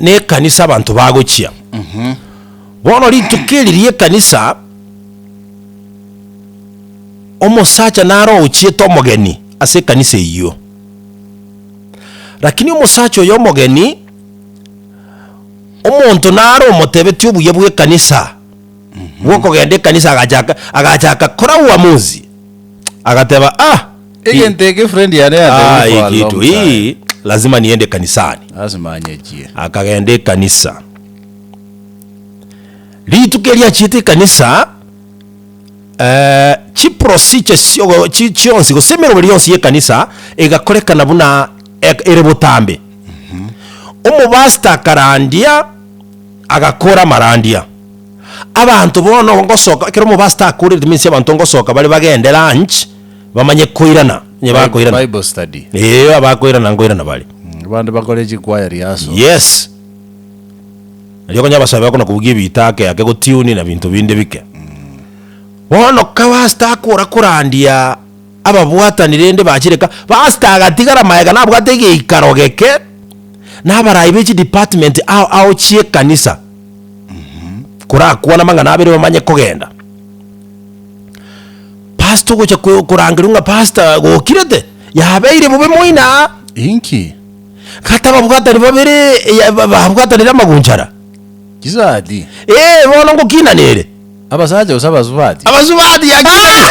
nekanisa abanto bagochia. Bono rituko eri riekanisa, omosacha naro ogochiete omogeni ase ekanisa eyio. Rakini omosacha oyo omogeni, omonto naro omotebetie obuya bw'ekanisa, bwokogenda ekanisa agachaka agachaka kora uamuzi, agateba ah. Egento eke friend yane Ah, yantebie for a hii long kitu time. hii lazima niende kanisani Lazima anyechie. akagenda ekanisa rituko eriachiete ekanisa eh, chiprosiche siogo- chi- chionsi gose emeroberi yonsi yekanisa egakorekana buna ek- ere botambe omobasta akarandia agakora amarandia abanto bono ngosoka ekero omobasta akorire means abanto ngosoka bare bagende lunch bamanye koirana, onye bakoirana. Bible study. Eeh, abakoirana nkoirana bare. Abande bakore chikwaya rehearsal. Yes. Nario okonyora abasae bagokona kobugia ebiita ake ake gotune na binto binde bike. Bono ka pastor akora korandia ababwatani rende bachire ka, pastor agatigara magega nabwate egeikaro geke na abarai be chidepartment ao ao chi'ekanisa korakwane amang'ana abere bamanye kogenda. Pastor ogocha ko- korangerwa ng'a pastor gokirete, yabeire bobe moino aa. Inki? Kata babwatani babere eya- ba- babwatanire amagunchara. Chisati. Ee, bono ngokinanere. Abasacha gose abasubati? Abasubati yakinanire.